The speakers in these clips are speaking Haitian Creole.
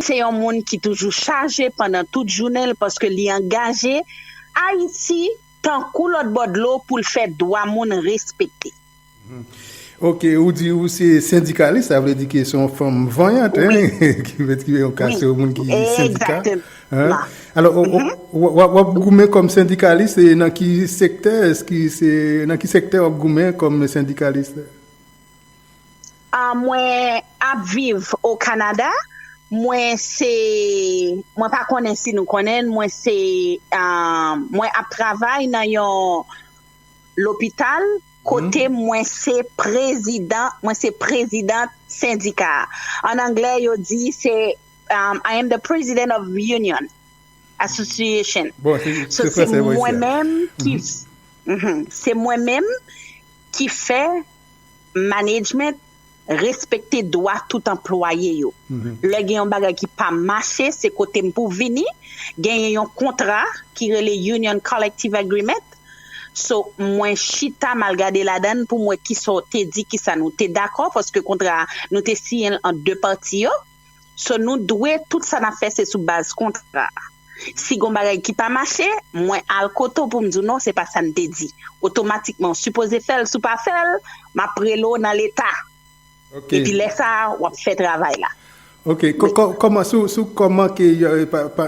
se yon moun ki toujou chaje pandan tout jounen l paske li angaje Ayiti tankou lòt bò dlo pou l fè dwa moun respekte. Ok, ou di ou se sendikalis, sa vle di ke se yon fanm vanyant, hein, ki vle di yon ka se yon moun ki sendika, hein. Alò, w ap goumen kòm sendikalis e nan ki sektè, nan ki sektè w ap goumen kòm sendikalis? Ah mwen ap viv o Canada mwen se mwen pa konnen si nou konnenl mwen se mwen ap travay nan yon lopital kote mwen se prezidan mwen se president sendika an anglè yo di se I am the president of union association bon se mwen menm ki se mwen menm. ki fè management respekte dwa tout anplwaye yo. Lè gen yon bagay ki pa mache, se kote m pou w vini. Genyen yon kontra ki rele Union Collective Agreement. So, mwen chita m al gade ladan l pou m wè kisa w te di, kisa nou te dakò, paske kontra a, nou te siyen l ant de pati yo. So nou dwe tout sa nap fè se sou baz kontra. Si gon bagay ki pa mache, mwen al kote w pou m di w non se pa sa n te di. Otomatikman w sipoze fè l si w pa fè l, map rele w nan leta. Epi lè sa a wap fè travay la. Ok, kòman sou sou kòman ke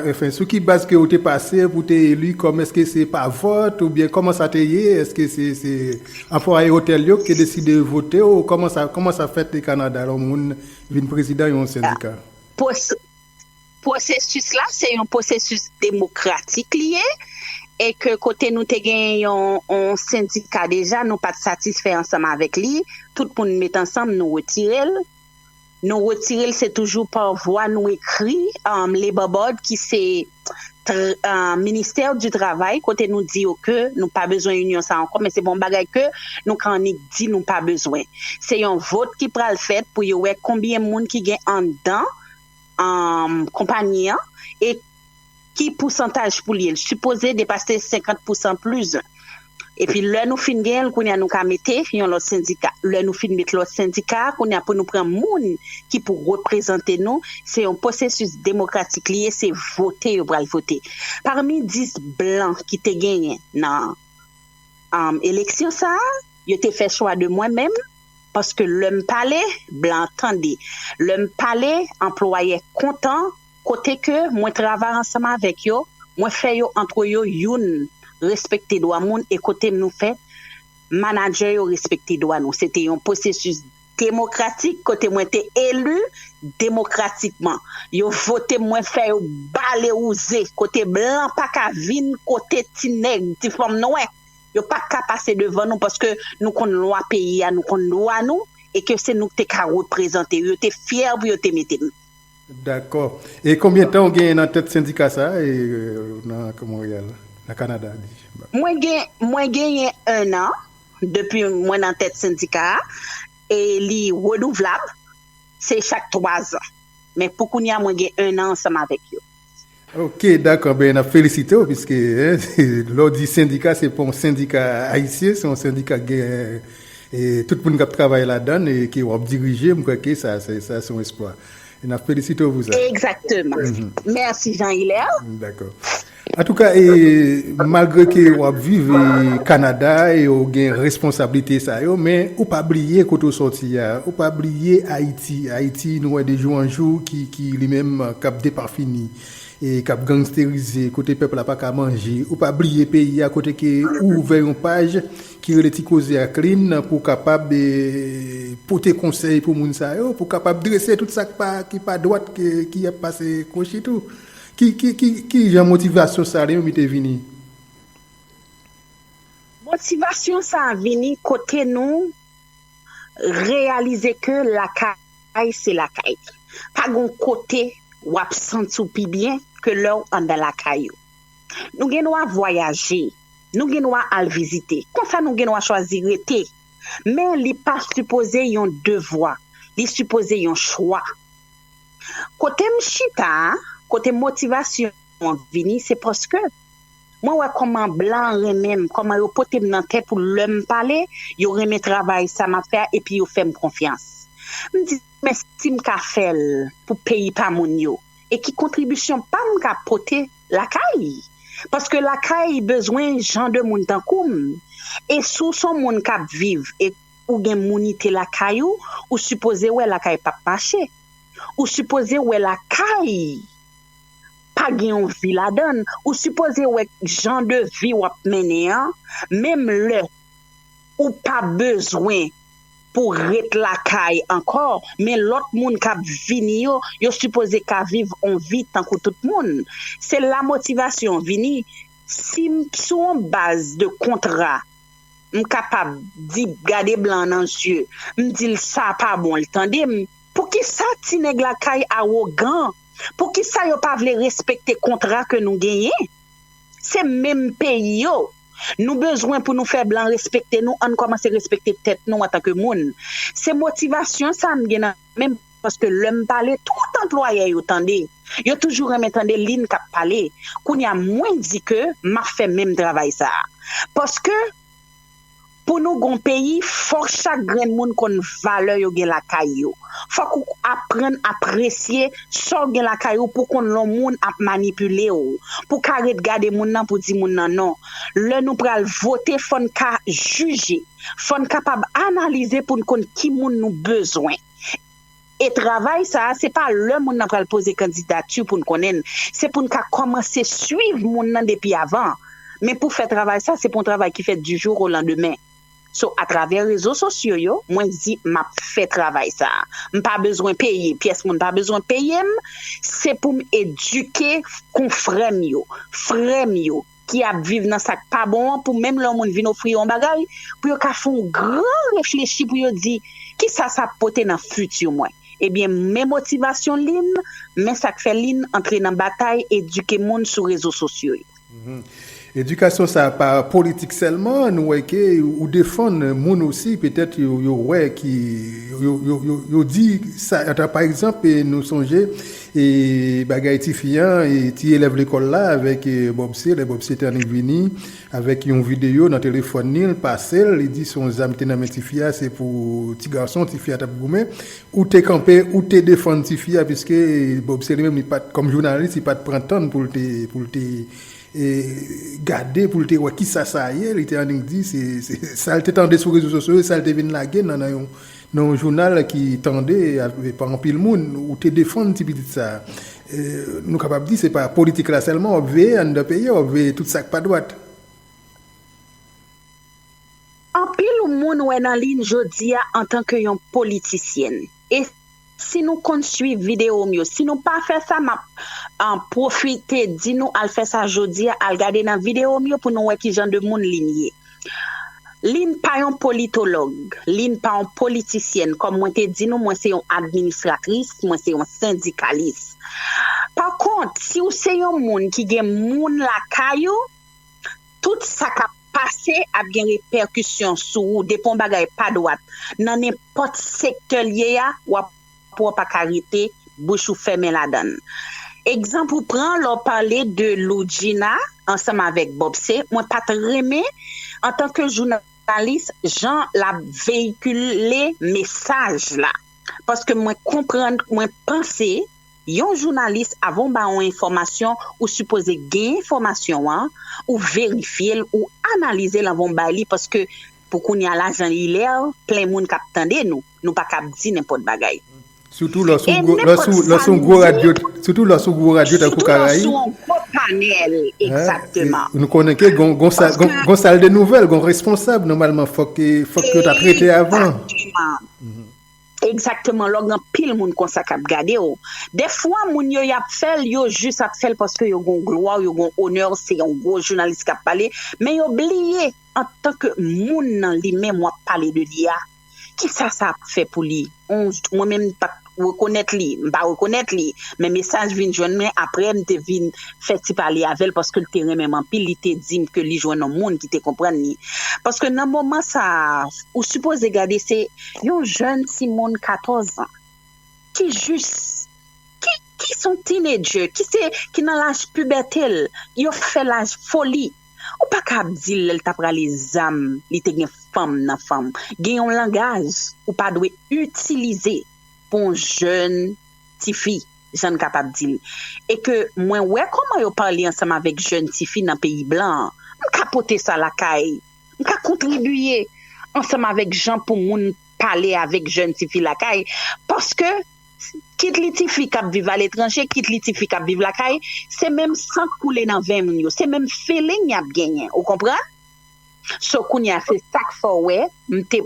enfin sou ki baz ke ou te pase pou te eli kòm eske se pa vòt ou byen kòman sa te ye eske se se anfwaye otèl yo ki te deside vote ou kòman sa kòman sa fèt e kanada lò moun Vin prezidan yon sendika. Pwosesis la se yon pwosesis demokratik li ye e ke kote nou te genyen yon sendika deja nou pa t satisfè ansanm avèk li, tout moun met ansanm nou retire l. Nou retire l se toujou pa vwa nou ekri Labor Board ki se. ministère du travail kote nou di yo ke nou pa bezwen union sa ankò men se pa yon bagay ke nou ka annik di nou pa bezwen se yon vot ki pral fèt pou yo wè konbyen moun ki gen anndan konpagnie an e ki pousantaj pou li el sipoze depase 50 pousan plus 1. Epi lè nou fin genyen l kounya nou ka mete yon lòt sendika. Lè nou fin met lòt sendika a kounya pou nou pran moun ki pou reprezante nou, se yon posesis demokratik li ye, se vote yo pral vote. Pami 10 blan ki te genyen nan eleksyon sa a, yo te fè chwa de mwen menm paske lè m pale blan tande, lè m pale anplwayè kontan. kote ke mwen travay ansanm avèk yo, mwen fè yo antre yo youn respekte dwa moun e kote nou fè manadjè yo respekte dwa nou. Se te yon pwosesis demokratik kote mwen te eli demokratikman. Yo vote m, mwen fè yo bale wouze kote blan pa ka vin kote ti nèg, ti fanm nwè. Yo pa t ka pase devan nou paske nou konn lwa peyi a, nou konn dwa nou e ke se nou ki te ka reprezante yo. Yo te fyè pou yo te mete m. Dakò. E konbyen tan ou genyen nan tèt sendika sa a e nan Monreyal, nan Kanada di m ap di? Mwen gen, mwen genyen ennan depi mwen nan tèt sendika a e li renouvlab, se chak twazan. Men pou kounye a mwen gen ennan ansanm avèk yo. Ok dakò ben nap felisite w piske lè w di sendika se pa yon sendika ayisyen se yon sendika ki gen tout moun kap travay ladann e ke wap dirije m kwè ke sa se yon esplwa e nap felisite w pou sa. Egzakteman. Mèsi Jean Hilaire. Dakò. Antouka e malgre ke wap viv Kanada e w gen responsablite sa yo men ou pa bliye kote w sòti a ou pa bliye Ayiti Ayiti nou wè de jou an jou ki ki li menm kap depafini e kap gangsterize kote pèp la paka manje ou pa bliye peyi a kote ke ou ouvè yon paj ki rele ti koze ak lin pou kapab pote konsèy pou moun sa yo pou kapab drese tout sak pa ki pa dwat ki ap pase kwochi tou ki ki ki ki jan motivasyon sa li menm li te vini? Motivasyon sa vini kote nou reyalize ke lakay. Lakay se lakay. Pa gen yon kote w ap santi w pi byen ke lè w anndan lakay ou. Nou gen dwa vwayaje, nou gen dwa al vizite, konsa nou gen dwa chwazi rete. Men li pa sipoze yon devwa, li sipoze yon chwa. Kote m chita a, kote motivasyon an vini, se paske. Mwen wè kòman blan renmen m, kòman yo pote m nan tè pou lè m pale, yo renmen travay sa m ap fè a epi yo fè m konfyans. M di men si m ka fè l pou peyi pa moun yo e ki kontribisyon pa m ka pote lakay? Paske lakay bezwen jan de moun tankou m. E si w s on moun k ap viv e ou gen mounite lakay ou, ou sipoze wè lakay p ap mache. Ou sipoze wè lakay! pa gen yon vi ladan l, ou sipoze wè jan de vi w ap mennen an, menm lè ou pa bezwen pou w ret lakay ankò men lòt moun k ap vini yo, yo sipoze ka viv yon vi tankou tout moun. Se la motivasyon an vini, si m sou yon baz de kontra m kapab di gade blan an nan zye m di l sa pa bon l tande m. Poukisa ti nèg lakay awogan? Poukisa yo pa vle respekte kontra ke nou genyen? Se menm peyi yo Nou bezwen pou nou fè blan respekte nou ann kòmanse respekte tèt nou antanke moun se motivasyon sa m gen nan menm paske lè m pale tout anplwayè yo tande yo toujou renmen tande linn k ap pale kounya mwen di ke m ap fè menm travay sa paske Pou nou gon peyi fòk chak grenn moun konn valè yo gen lakay yo. Fòk ou aprann apresye sa w gen lakay ou pou konn lè w moun ap manipile w. Pou ka ret gade moun nan pou di moun nan non. Lè nou pral vote fò n ka jije. Fò n kapab analize pou n konn ki moun nou bezwen. E travay sa a, se pa lè moun nan pral poze kandidati pou n konnen n, se pou n ka kòmanse suiv moun nan depi avan. Men pou fè travay sa, se pa yon travay ki fèt di jou o landemen. So, atravè rezo sosyo yo, mwen di m ap fè travay sa a. M pa bezwen peye, pyès moun pa bezwen peye m, se pou m edike konfrè m yo, frè m yo, ki ap viv nan sak pa bon an pou menm lè yon moun vin ofri yo yon bagay pou yo ka fè yon gran reflechi pou yo di kisa sa ap pote nan fiti mwen ebyen men motivasyon Lynn men sak fè Lynn antre nan batay edike moun sou rezo sosyo yo. Edikasyon sa pa politik sèlman nou wè ke ou defann moun osi petèt yo wè ki yo di sa pa egzanp nou sonje E bagay tifi an e ti elèv lekòl la avèk Bòbse, lè Bòbse te annik vini avèk yon videyo nan telefòn li, l pase l, li di se yon zam ki te nan men tifi a, se pou ti gason tifi a t ap goumen. Ou te kanpe, ou te defann tifi a piske Bòbse li menm li pa t, kòm jounalis, li pa t pran tan l pou l te, pou l te gade, pou l te wè kisa sa ye, li te annik di se sa l te tande sou rezo sosyo yo, sa l te vin lage nan yon. Nan yon jounal ki tande pa anpil moun, ou te defann ti pitit sa a. Nou kapab di se pa politik la sèlman w ap veye anndan peyi a, w ap veye tout sa k pa dwat. Anpil moun wè nan li jodi a antanke yon politisyèn. E si nou konn suiv videyo m yo, si nou pa fè sa m ap pwofite di nou al fè sa jodi a, al gade nan videyo m yo pou nou wè ki jan de moun Lynn ye. Lynn pa yon politològ, Lynn pa yon politisyèn, kòm mwen te di nou mwen se yon administratris, mwen se yon sendikalis. Pa kont, si ou se yon moun ki gen moun lakay ou, tout sa k ap pase ap gen repèkisyon sou ou depi yon bagay pa dwat nan nenpòt sektè l ye a w ap pou w pa ka rete bouch ou fèmen ladan l. Egzanp ou pran lè w pale de Loudjina ansanm avèk Bobse, mwen pa t renmen antanke jounalis jan l ap veyikile mesaj la paske mwen konprann, mwen panse yon jounalis avan w ba yon enfòmasyon ou sipoze gen enfòmasyon an, ou verifye l, ou analize l anvan w bay li paske pou kounya la jan li lè plen moun k ap tande nou. nou pa kab di nenpòt bagay. Sitou lè w sou gwo radyo tankou Karaib. E nenpòt sa nou di. Sitou lè w sou gwo radyo tankou Karaib. Sitou lè w sou yon gwo panèl, egzakteman. Nou konnen ke gon sal de nouvèl, gon responsab nòmalman fòk yo ta trete avan. Egzakteman. Egzakteman, lò gen anpil moun konsa k ap gade w. Dèfwa moun yo y ap fè l, yo jis ap fè l paske yo gon glwa w, yo gon onè w, se yon gwo jounalis k ap pale. Men yo bliye antanke moun nan li menm w ap pale de li a. Kisa sa ap fè pou li? Mwen menm m pat rekonèt li, m pa rekonèt li, men mesaj vin jwenn mwen aprè m te vin fè ti pale avè l paske l te renmen m anpil, li te di m ke li jwenn yon moun ki te konprann li. Paske nan moman sa a ou sipoze gade se yon jèn timoun 14 ans ki jis ki son teenager ki se ki nan laj pibète l, yo fè laj foli. Ou pa ka ap dil lèl tap rale zam li te gen fanm nan fanm gen yon langaj ou pa dwe itilize pou yon jèn tifi jann kapab dil e ke mwen wè kòman yo pale ansanm avèk jèn tifi nan peyi blan an m ka pote sa lakay m ka kontribiye ansanm avèk jan pou moun pale avèk jèn tifi lakay paske kit li tifi kap viv aletranje kit li tifi kap viv lakay se menm san k koule nan venn moun yo se menm feeling yap genyen ou konprann so kounya se sak fè w wè m te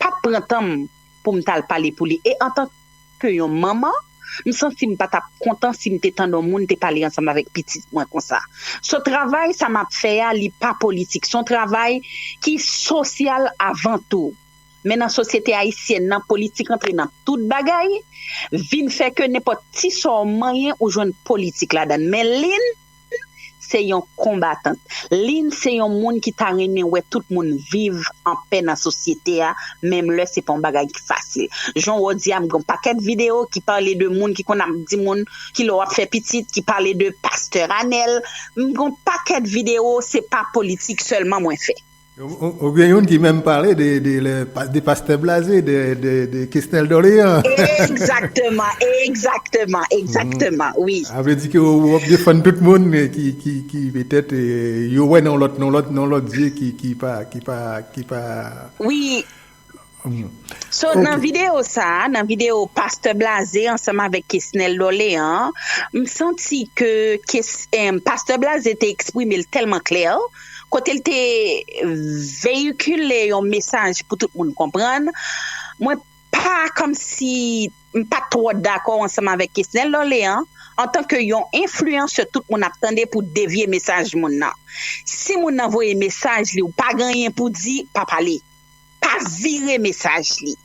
pat pran tan m pou m tal pale pou li e antan ke yon manman m santi m pa tap kontan si m te tande yon moun te pale ansanm avèk pitit mwen konsa so travay sa map fè a li pa politik son travay ki sosyal avan tou. Men nan sosyete ayisyèn nan, politik antre nan tout bagay, vin fè ke nenpòt ti sa w manyen ou jwenn politik ladan l. Men Lynn se yon konbatant. Lynn se yon moun ki ta renmen wè tout moun viv anpè nan sosyete a, menm lè se pa yon bagay ki fasil. Jan wè w di a, m gen yon pakèt videyo ki pale de moun ki konn ap di moun ki lè w ap fè pitit, ki pale de pastè Ranel. M gen yon pakèt videyo, se pa politik sèlman mwen fè. Ou gen youn ki menm pale de Pastè Blaze, de Kesnel Dorlean. Ekzakteman, ekzakteman, ekzakteman, wi. Sa vle di ke ou ap defann tout moun ki petèt yo wè nan lòt, nan lòt, nan lòt zye ki pa, ki pa, ki pa. Wi. So nan video sa a, nan video Pastè Blaze ansanm avèk Kesnel Dorlean, m santi ke Pastè Blaze te eksprime l tèlman klè, kote l te veyikile yon mesaj pou tout moun konprann, mwen pa kòmsi m pa t twò dakò ansanm avèk Kesnel Dorlean antanke yon enfliyansè tout moun ap tande pou devye mesaj moun nan. Si moun nan voye mesaj li ou pa genyen pou di, pa pale. pa vire mesaj li.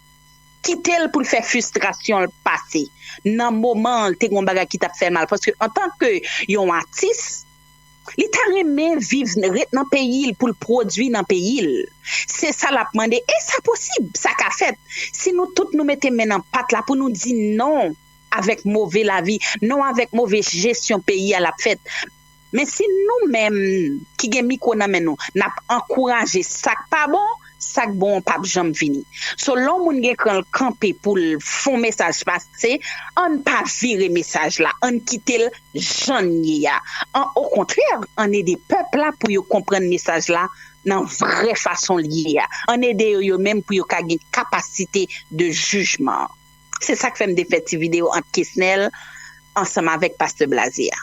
Kite l pou l fè fistrasyon l pase. Nan moman an, te gen yon bagay ki t ap fè l mal paske antanke yon atis, li ta renmen viv, ret nan peyi l pou l pwodui nan peyi l. Se sa l ap mande e sa posib, sa ka fèt si nou tout nou mete men nan pat la pou nou di non avèk move lavi, non avèk move jesyon peyi a l ap fèt. Men si nou menm ki gen mikwo nan men nou nap ankouraje sak pa bon, sak bon an pap janm vini. So lè yon moun gen kran l kanpe pou l fon mesaj pase, ann pa vire mesaj la, ann kite l jan l ye a. An okontrè ann ede pèp la pou yo konprann mesaj la nan vrè fason l ye a. Ann ede yo yo menm pou yo ka gen kapasite de jijman. Se sak fèm te fè ti video ant kesnel ansanm avèk pastè blaze a.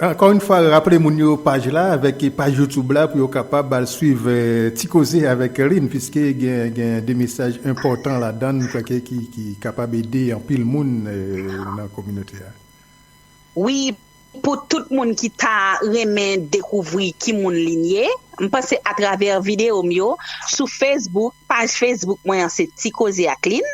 Ankò yn fwa raple moun yo paj la avèk paj youtube la pou yo kapab al swiv ti koze avèk Lynn piske gen de mesaj enpòtan ladann m kwè ke ki kapab ede anpil moun nan kominote a. Wi pou tout moun ki ta renmen dekouvri ki moun Lynn ye m panse atravè video m yo sou Facebook paj Facebook mwen an se ti koze ak Lynn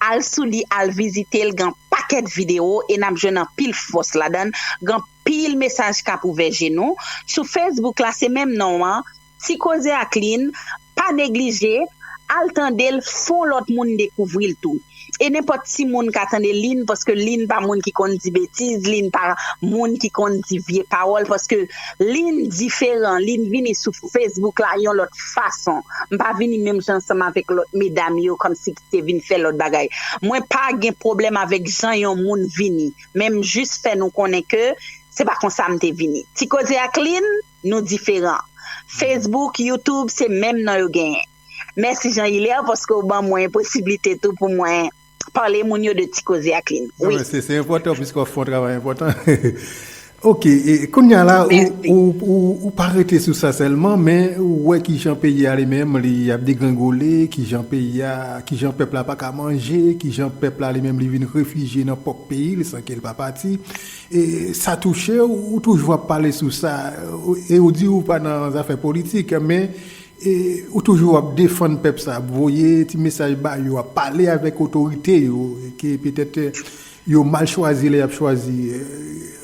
al sou li al vizite l gan pakèt video e nap jwenn anpil fòs ladann gan pil mesaj kap ouvè je nou sou Facebook la se menm non an Ti koze ak Lynn, pa neglije Al tande l fon lòt moun dekouvri l tou e nenpòt timoun ka tande Lynn paske Lynn pa moun ki konn di betiz Lynn pa moun ki konn di vye pawòl paske Lynn diferan Lynn vini sou Facebook la yon lòt fason m pa vini menm jan ansanm avèk lòt medam yo kòmsi ki te vin fè lòt bagay mwen pa gen pwoblèm avèk jan yon moun vini men m jis fè nou konnen ke se pa konsa m te vini Ti koze ak Lynn. Nou diferan. Facebook, YouTube se menm non yo genyen. Mèsi Jean Hilaire paske ou ban mwen posiblite tou pou mwen pale moun yo de Ti Koze ak Lynn. Wi. Se enpòtan piske wap fè yon travay enpòtan. Ok, kounya la ou pa rete sou sa sèlman men ou wè kijan peyi a li menm li ap degrengole, kijan peyi a, kijan pèp la paka manje, kijan pèp la li menm li vin refijye nan pwòp peyi li san ke li pa pati. E sa touche w, ou toujou ap pale sou sa, e ou di ou pa nan zafè politik, men e ou toujou ap defann pèp sa, ap voye ti mesaj ba yo, ap pale avèk otorite yo, ke petèt yo mal chwazi lè y ap chwazi.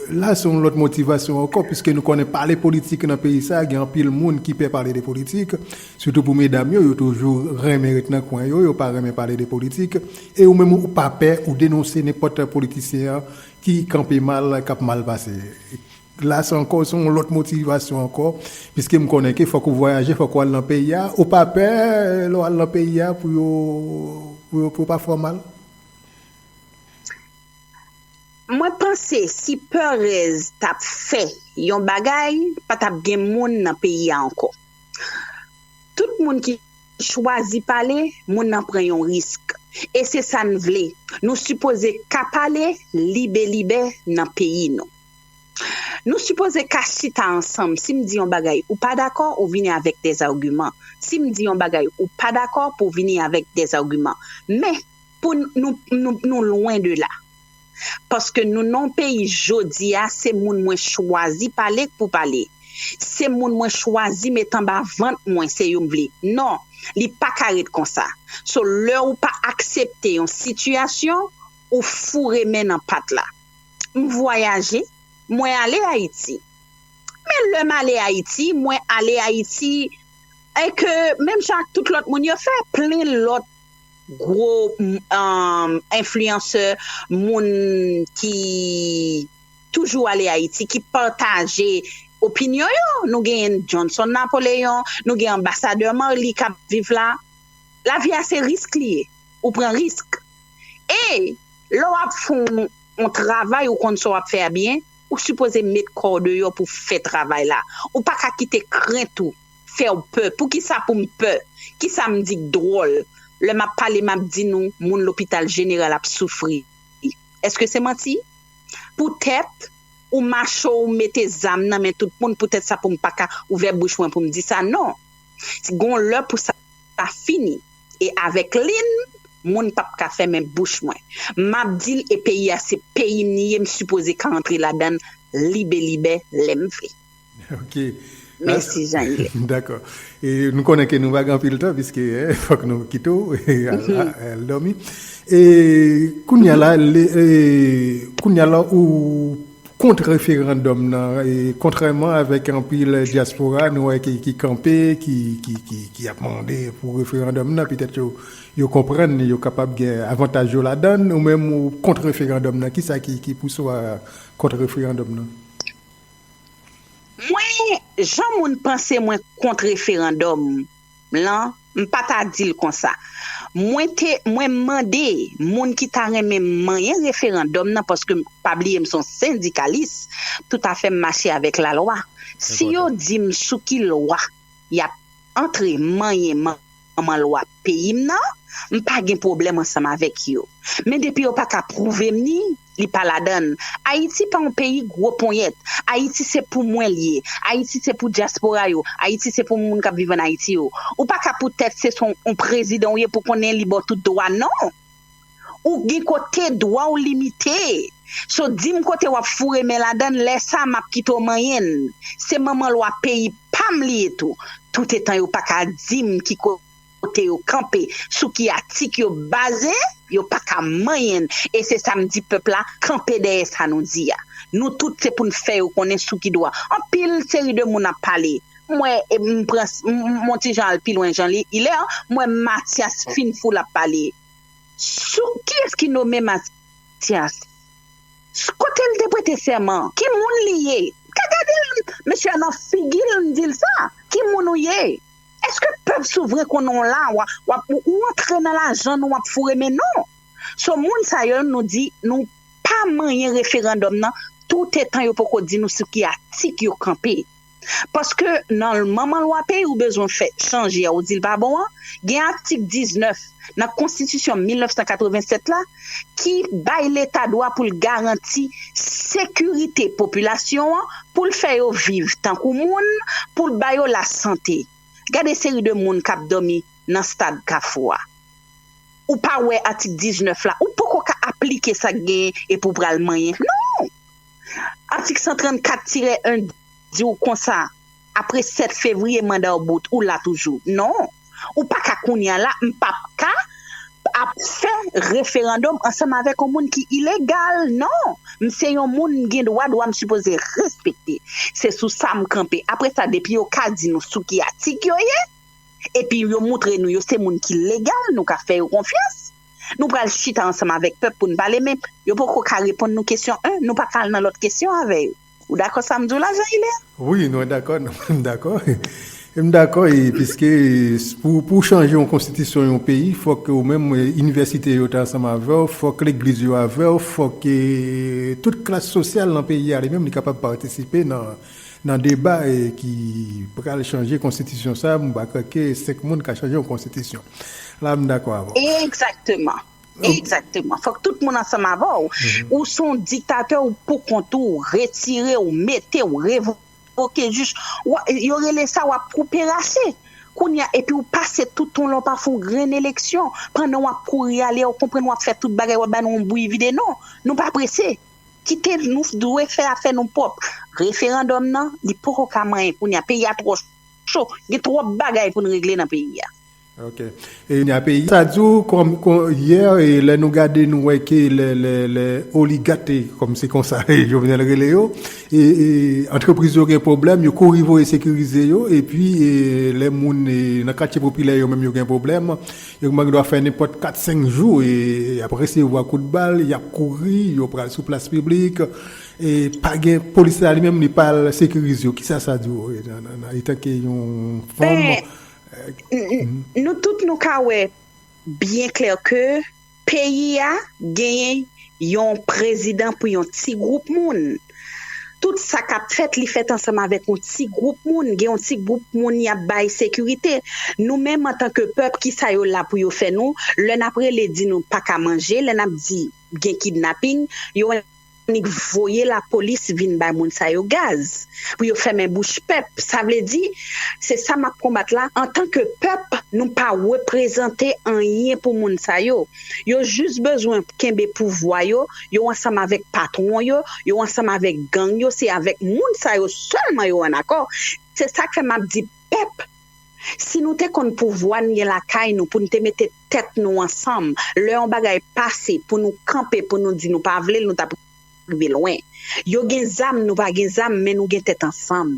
La se yon lòt motivasyon ankò, piske nou konnen pale politik nan peyi sa, gen anpil moun ki pè pale de politik, sitou pou medam yo, yo toujou renmen ret nan kwen yo, yo pa renmen pale de politik, e ou menm ou pa pè, ou denonse nenpòt politisyen ki kanpe mal k ap mal pase klas ankò se yon lòt motivasyon ankò piske m konnen ke fòk ou vwayaje fòk ou al nan peyi a ou pa pè lè w al nan peyi a pou yo pou yo pou yo pa fè w mal? Mwen panse si Perez t ap fè yon bagay pa t ap gen moun nan peyi a ankò. Tout moun ki chwazi pale, moun nan pran yon risk. E se sa n vle. Nou sipoze ka pale libelibè nan peyi nou. Nou sipoze ka chita ansanm. Si m di yon bagay ou pa dakò, ou vini avèk dèzagiman. Si m di yon bagay ou pa dakò, pou w vini avèk dèzagiman. Men, pou nou lwen de la. paske nou nan yon peyi jodi a se moun mwen chwazi pale k pou pale se moun mwen chwazi met anba vant mwen se yo m vle non li pa ka ret konsa so lè ou pa aksepte yon sitiyasyon ou foure men nan pat la m vwayaje mwen ale ayiti men lè m ale ayiti mwen ale ayiti e ke menm jan ak tout lòt moun yo fè plen lòt gwo enfliyansè moun ki toujou ale Ayiti ki pataje opinyon yo nou gen Johnson Napoléon nou gen anbasadè Marly kap viv la lavi a se risk li ye ou pran risk e lè wap fon yon travay ou konn sa wap fè a byen ou sipoze met kòw deyò pou fè travay la ou paka kite krent ou. fèw pè poukisa poum pè kisa m di k dròl lè map pale map di nou moun lopital jeneral ap soufri èske se manti poutèt ou macho ou mete zam nan men tout moun poutèt sa poum paka ouvè bouch mwen poum di sa non gon lè pou sa fini e avèk li n moun pap ka fèmen bouch mwen map di l e peyi a se peyi m li ye m sipoze ka antre ladan l libelibè lèm vle. Ok. Mèsi Jean Yves. Dakò. E nou konnen ke nou pa gen anpil tan piske fòk nou kite w al dòmi. E kounye a la, kounye a la ou kont referandòm nan e kontrèman avèk anpil dyaspora nou wè ki kanpe, ki ap mande pou referandòm nan, petèt yo konprann yo kapab gen avantaj yo ladann, ou menm ou kont referandòm nan. Kisa ki pouse w a kont referandòm nan? Mwen jan moun panse mwen kont referandòm lan m pa ta di l konsa. Mwen te mwen mande moun ki ta renmen m manyen referandòm nan paske m pa bliye m son sendikalis tout a fè m mache avèk lalwa. Si yo di m sou ki lwa y ap antre manyen m. manman lwa peyi m nan, m pa gen pwoblèm ansanm avèk yo. Men depi yo pa ka pwouve m ni li pa ladan l. Ayiti pa yon peyi gwo ponyèt. Ayiti se pou mwen l ye. Ayiti se pou dyaspora yo. Ayiti se pou moun k ap viv ann Ayiti yo. Ou pa ka poutèt se son yon prezidan ou ye pou konnen li ba w tout dwa non! Ou gen kote dwa w limite. So di m kote w ap foure men ladan l, lè sa a m ap kite w manyen l. Se manman lwa peyi pa m li ye tou. Toutetan yo pa ka di m ki kote yo kanpe, sou ki atik yo baze, yo pa ka manyen n. E se sa m di pèp la, kanpe dèyè sa nou di a. Nou tout se pou n fè yo konnen sou ki dwa. Anpil seri de moun ap pale. M wè, m pran, m on ti jan al pi lwen jan li, ilè, m wè Matyas fin fou l ap pale. Sou, Kiyès ki nome Matyas? S, Kote l te prete sèman? Ki moun li ye? M ka gade l, mesye a nan figi l, m di l sa, Ki moun ou ye? Èske pèp souvren konnen w la, w ap, ou antre nan lajan nou ap foure men nou? So, moun sa yo, nou di, nou pa manyen referandòm nan toutetan yo poko di nou sou ki atik yo kanpe. Paske nan manman lwa peyi ou bezwen fè chanje a ou di l pa bon an, gen atik 19 nan konstitisyon 1987 la ki bay leta dwa pou l garanti sekirite popilasyon an, pou l fè yo viv tankou moun, pou l ba yo lasante. Gade seri de moun k ap dòmi nan stad Kafou a. Ou pa wè atik 19 la, ou poko ka aplike sa k genyen epi w pral manyen. Non! Atik 134 tirè 1 di w konsa, apre 7 fevriye manda w bout, ou la toujou. Non, ou pa ka kounye a la, m p ap ka ap fè referandòm ansanm avèk yon moun ki ilegal. Non, m se yon moun, m gen dwa, dwa m sipoze respekte. Se sou sa m kanpe. Apre sa, depi yo ka di nou sou ki atik yo ye, epi yo moutre nou yo se moun ki legal, nou ka fè yo konfyans. Nou pral chita ansanm avèk pèp pou n pale men yo poko ka reponn nou kesyon 1 nou pa ka al nan lòt kesyon avè yo ou dakò sa m di w la Jean Hilaire? Wi mwen dakò m dakò m dakò e piske pou w chanje yon konstitisyon yon peyi fòk ou menm inivèsite yo ta ansanm avè w fòk legliz yo avè w fòk tout klas sosyal nan peyi a li menm li kapab patisipe nan Nan deba ki pral chanje konstitisyon sa, mwen pa kwè ke 5 moun ka chanje yon konstitisyon. La m dakò avè w. Egzakteman. Egzakteman. Fòk tout moun ansanm avè w. Ou se yon diktatè ou pou kont ou, retire w, mete w, revoke jij. Yo rele sa w ap koupe rase. Kounye a epi w pase tout tan w la w pa fè yon grenn eleksyon. Pandan w ap kouri ale, ou konprann w ap fè tout bagay, w ap ba nou yon bouyi vide. Non, nou pa prese. Kite nou dwe fè afè nou pwòp. Referandòm nan li poko ka manyen kounye a peyi a twò cho gen twòp bagay pou n regle nan peyi a. Ok e peyi sa di w kòm yè lè nou gade nou wè ke lè oligat kòm se konsa Jovenel rele yo e antrepriz yo gen pwoblèm yo kouri voye sekirize yo epi lè moun nan katye popilè yo menm yo gen pwoblèm Yo kman gendwa fè nenpòt 4 5 jou e yap resevwa kout bal, yap kouri, yo pral sou plas piblik e pa gen polis la li menm li pa al sekirize yo. Kisa sa di w etanke yon fanm? Nou tout nou ka wè byen klè ke peyi a genyen yon prezidan pou yon ti gwoup moun. Tout sa k ap fèt li fèt ansanm avèk yon ti gwoup moun, gen yon ti gwoup moun y ap bay sekirite. Nou menm antanke pèp ki sa yo la pou yo fè nou, lè n ap rele di nou pa ka manje, lè n ap di gen kidnaping, yo annik voye lapolis vin bay moun sa yo gaz pou yo fèmen bouch pèp. Sa vle di se sa m ap konbat la antanke pèp nou pa reprezante anyen pou moun sa yo. Yo jis bezwen kenbe pouvwa yo, yo ansanm avèk patwon yo, yo ansanm avèk gang yo, se avèk moun sa yo sèlman yo an akò, se sak fè map di pèp si nou te konn pouvwa n gen lakay nou pou n te mete tèt nou ansanm lè yon bagay pase pou nou kanpe pou nou di nou pa vle l nou tap rive lwen yo gen zam nou pa gen zam men nou gen tèt ansanm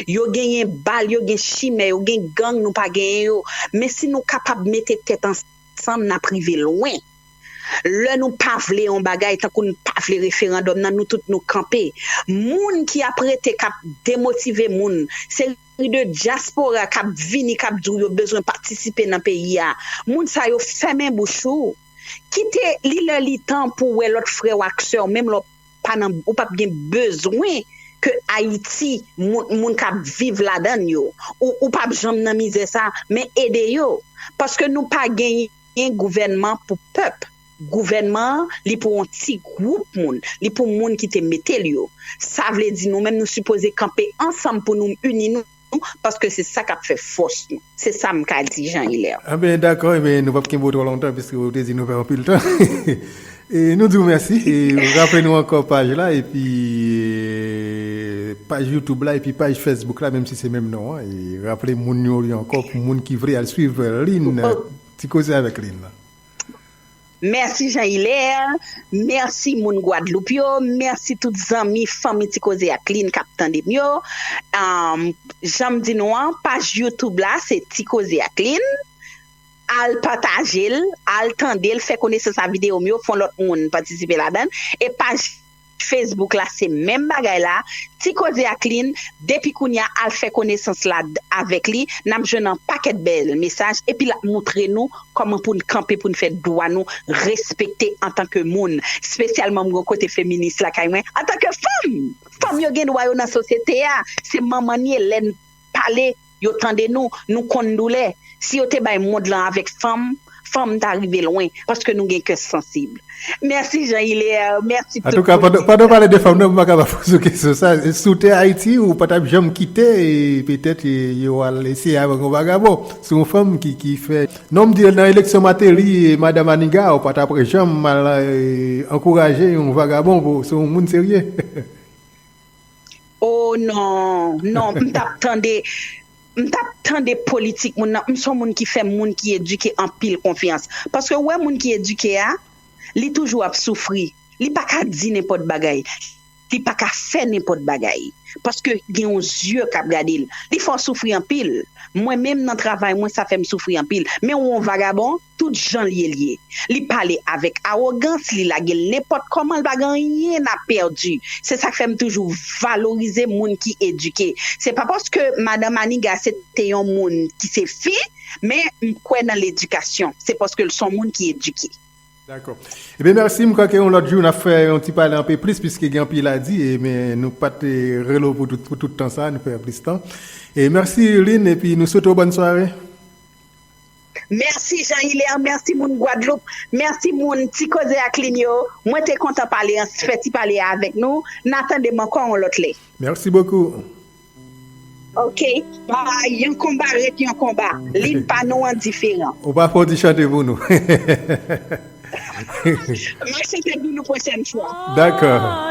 yo genyen bal yo gen chimè yo gen gang nou pa genyen yo men si nou kapab mete tèt ansanm. Ansanm n ap rive lwen. Lè nou pa vle yon bagay, tankou n pa vle referandòm nan, nou tout nou kanpe. Moun ki ap rete k ap demotive moun, seri de dyaspora k ap vini k ap di w yo bezwen patisipe nan peyi a, moun sa yo fèmen bouch ou. Kite li lè li tan pou w wè lòt frè w ak sè w, menm lè w. pa nan ou pap gen bezwen ke ayiti moun moun kap viv ladann yo ou pap janm nan mizè sa men ede yo paske nou pa genyen gouvènman pou pèp gouvènman an li pou yon ti gwoup moun li pou moun ki te metel yo sa vle di nou menm nou sipoze kanpe ansanm pou nou uni nou. nou paske se sa kap fè fòs nou. Se sa m ka di Jean Hilaire. Enben dakò, enben nou pap kenbe w twò lontan piske ou te di nou fè anpil tan. Nou di w mèsi e raple nou ankò paj la epi paj youtube la epi paj facebook la menm si se menm non an e raple moun yo li ankò pou moun ki vle al swiv Lynn ti koze avèk Lynn nan. Mèsi Jean Hilaire, mèsi moun Gwadloup yo, mèsi tout zanmi, fanmi Ti Koze ak Lynn k ap tande m yo. Jan m di nou an, paj YouTube la se Ti Koze ak Lynn. Al pataje l, al tande l, fè konesans a videyo m yo, fè lòt moun patisipe ladan l. E paj. Facebook la se menm bagay la ti koze ak lynn depi kounya al fè konesans la avèk li nap jwenn an pakèt bèl mesaj epi lap moutre nou kòman poun kanpe poun fè dwa nou respekte antanke moun spesyalman mwen kote feminis lakay mwen antanke fanm fanm yo gen dwa yo nan sosyete a se manman n ye lèn pale yo tande nou nou konn doulè si yo te bay mond lan avèk fanm fanm ta rive lwen paske nou gen kè sansib mèsi Jean Hilaire mèsi tout moun ki pandan w pale de fanm nan m paka pa poze w kesyon sa si w te Ayiti ou pa tap janm kite petèt yo al eseye avèk yon vagabon se yon fanm ki fè non m di nan eleksyon Mateli e Madan Maniga ou pa tap janm al ankouraje yon vagabon se yon moun serye. Ooh non non m tap tande m tap tande politik moun nan m son moun ki fè moun ki edike anpil konfyans paske ou wè moun ki edike a li toujou ap soufri li pa ka di nenpòt bagay li pa ka fè nenpòt bagay paske gen yon zye kap gade l li fè w soufri anpil mwen menm nan travay mwen sa fè m soufri anpil men ou yon vagabon Tout jan l ye l ye. Li pale avèk awogans, li lage l nenpòt kòman, l pa gen anyen a pèdi. Se sa k fè m toujou valorize moun ki edike. Se pa paske madan Maniga se te yon moun ki se fi, men m kwè nan ledikasyon. Se paske l s on moun ki edike. Dakò. Ebyen mèsi, m kwè ke yon lòt jou n ap fè yon ti pale anpe plis piske gen anpil a di, men nou pa t rele w pou tout tan sa a, nou fè plis tan. Mèsi Lynn epi nou swete w bòn sware. Merci Jean Hilaire merci moun Guadeloupe merci moun ti koze ak lynn yo mwen te kontan pale an fè ti pale a avèk nou na tandem ankò on lòt lè. Merci beaucoup. Ok bye yon konba ret yon konba lynn pa nou an diferan. Ou pa fè yon ti chante pou nou. Map chante pou nou pwochèn fwa. D'accord.